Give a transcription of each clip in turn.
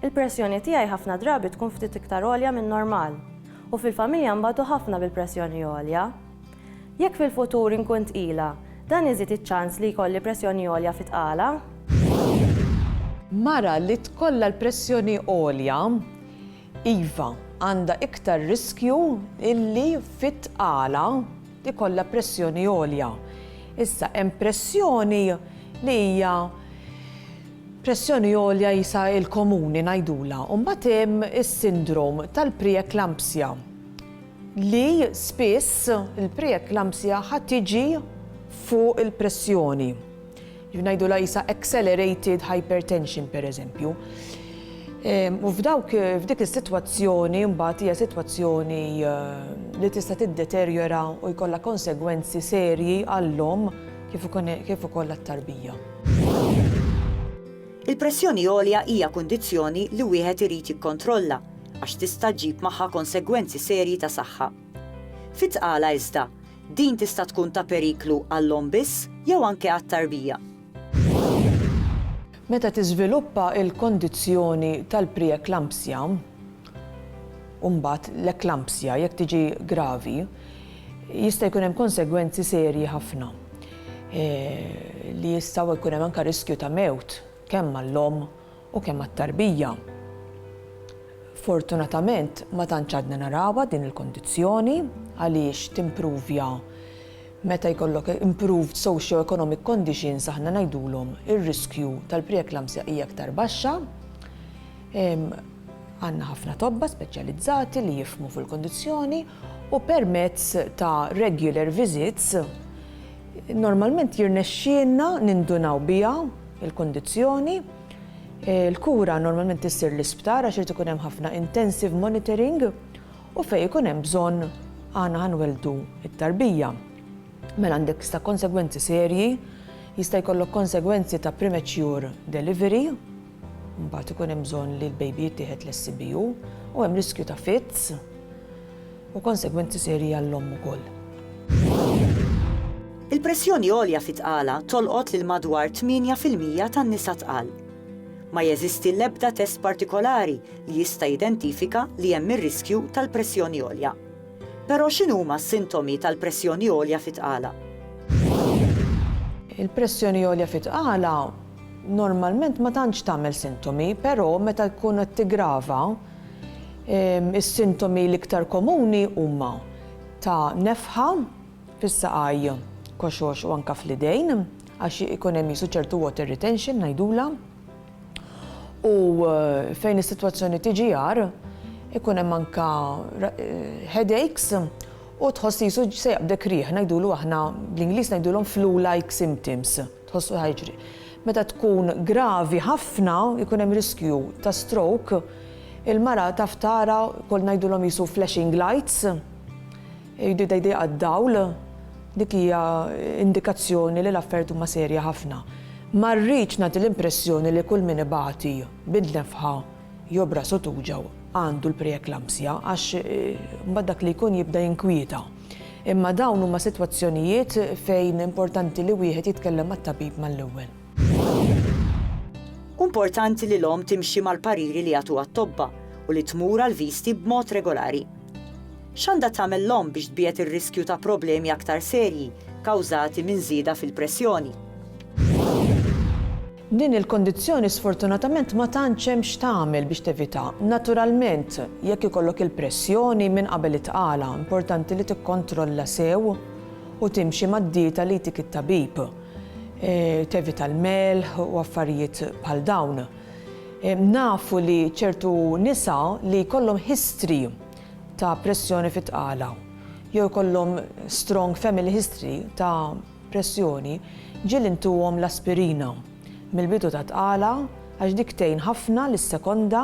Il-pressjoni tiegħi ħafna drabi tkun ftit iktar għolja min-normal, u fil-familja nbatu ħafna bil-pressjoni għolja. Jekk fil-futur inkun tqila, dan iżid iċ-ċans li jkolli pressjoni għolja fit-tqala? Mara li tkollha l-pressjoni għolja, iva, għandha iktar riskju li fit-tqala, ikollha pressjoni għolja. Issa hemm pressjoni li hija pressjoni għolja jisa il-komuni ngħidulha, u mbagħad hemm is-sindrom tal-preeklampsja li spiss il-preeklampsja ħa tiġi fuq il-pressjoni. Kif ngħidulha qisha accelerated hypertension pereżempju. U f'dawk, f'dik is-sitwazzjoni mbagħad hija sitwazzjoni li tista' tiddeterjora u jkollha konsegwenzi serji għall-omm kif ukoll għat-tarbija. Il-pressjoni għolja hija kundizzjoni li wieħed irid jikkontrolla għax tista' ġġib magħha konsegwenzi serji ta' saħħa. Fit-tqala iżda, Din tista' tkun ta' periklu għall-omm biss jew anke għat-tarbija. Meta tiżviluppa l-kondizzjoni tal-preeklampsja u mbagħad l-eklampsja, jekk tiġi gravi, jista' jkun hemm konsegwenzi serji ħafna li jistgħu jkun hemm anke riskju ta' mewt kemm għall-omm U kemm għat-tarbija. Fortunatament ma tantx għadna narawha din il-kondizzjoni għaliex timpruvja meta jkollok improved socio-economic conditions aħna ngħidulhom ir-riskju tal-preeklamsja hija aktar baxxa. Għandna ħafna tobba speċjalizzati li jifhmu fil-kondizzjoni u permezz ta' regular visits Normalment jirnexxielna nindunaw biha l-kundizzjoni. Il-kura normalment issir l-isptar għax irid ikun hemm ħafna intensive monitoring u fejn ikun hemm bżonn aħna ħa nwelldu t-tarbija. Mela għandek sta konsegwenzi serji, jista' jkollok konsegwenzi ta' premature delivery, Mbagħad ikun hemm bżonn li l-baby jittieħed l-SCBU u hemm riskju ta' fits u konsegwenzi serji għall-omm ukoll. Il-pressjoni għolja fit-tqala tolqot lil madwar 8 fil-mija tan-nisa tqal. Ma jeżisti l-ebda test partikolari li jista' jidentifika li hemm ir-riskju tal-pressjoni għolja. Però x'inhuma s-sintomi tal-pressjoni għolja fit-tqala? Il-pressjoni għolja fit-tqala Normalment ma tantx tagħmel sintomi, però meta jkun qed tiggrava, is-sintomi l-iktar komuni huma ta' nefħa fis-saqajn, koxox u anke fl-idejn għax ikun hemm qisu ċertu water retention ngħidulha. U fejn is-sitwazzjoni tiġi agħar, ikun hemm anke headaches u tħoss qisu se jaqbdek riħ, ngħidulu aħna bl-Ingliż ngħidulhom flu-like symptoms. Tħossu ħa jiġri. Meta tkun gravi ħafna, ikun hemm riskju ta' stroke, il-mara taf tara kol ngħidulhom qisu flashing lights, jgħidu jdejqa d-dawl, dik hija indikazzjoni li l-affarijiet huma serja ħafna. Ma rridx nagħti l-impressjoni li kull min ibati bin-nefħa jew b'rasu tuġgħu għandu l-preeklampsja għax imbagħad dak li jkun jibda jinkwieta. Imma dawn huma sitwazzjonijiet fejn importanti li wieħed jitkellem mat-tabib mal-ewwel. Hu importanti li l-omm timxi mal-pariri li jagħtuha t-tobba u li tmur għall-viżti b'mod regolari. X'għandha tagħmel l-omm biex tbiegħed ir-riskju ta' problemi aktar serji kawżati minn żieda fil-pressjoni? Din il-kondizzjoni sfortunatament ma tantx hemm x'tagħmel biex tevitha. Naturalment, jekk ikollok il-pressjoni minn qabel itqala, importanti li tikkontrolla sew u timxi mad-dieta li jtik it-tabib. Tevita l-melħ u affarijiet bħal dawn. Nafu li ċertu nisa li jkollhom history ta' pressjoni fit-tqala jew ikollhom strong family history ta' pressjoni, ġieli ntuhom l-aspirina mill-bidu tat-tqala għax dik tgħin ħafna lis-sekonda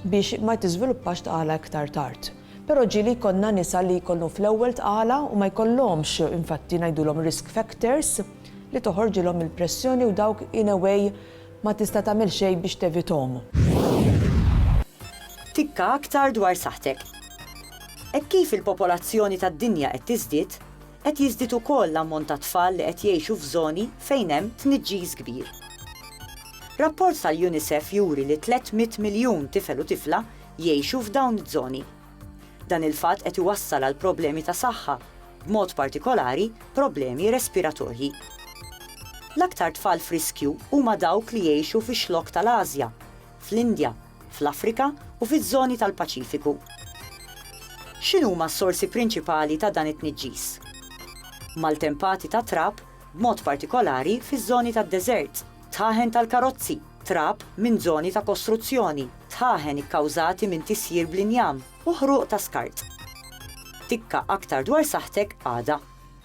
biex ma tiżviluppax tqala iktar tard. Però ġieli jkollna nisa li jkollhom fl-ewwel tqala u ma jkollhomx, infatti ngħidulhom risk factors, li toħorġilhom il-pressjoni u dawk in a way ma tista' tagħmel xejn biex tevithom. Tikka aktar dwar saħħtek. Hekk kif il-popolazzjoni tad-dinja qed tiżdied, Qed jiżdied ukoll l-ammont ta' tfal li qed jgħixu f'żoni fejn hemm tniġġis kbir. Rapport tal-UNICEF juri li 300 miljun tifel u tifla jgħixu f'dawn iż-żoni. Dan il-fatt qed iwassal għal problemi ta' saħħa, b'mod partikolari problemi respiratorji. L-aktar tfal f'riskju huma dawk li jgħixu fix-Xlokk tal-Ażja, fl-Indja, fl-Afrika u fiż-żoni tal-Paċifiku. X'inhuma s-sorsi prinċipali ta' dan it-tniġġis? Maltempati ta' trab, b'mod partikolari fiż-żoni tad-deżert, dħaħen tal-karozzi, trab minn żoni ta' kostruzzjoni, dħaħen ikkawżati minn tisjir bl-injam u ħruq ta' skart. Tikka aktar dwar saħħtek għada.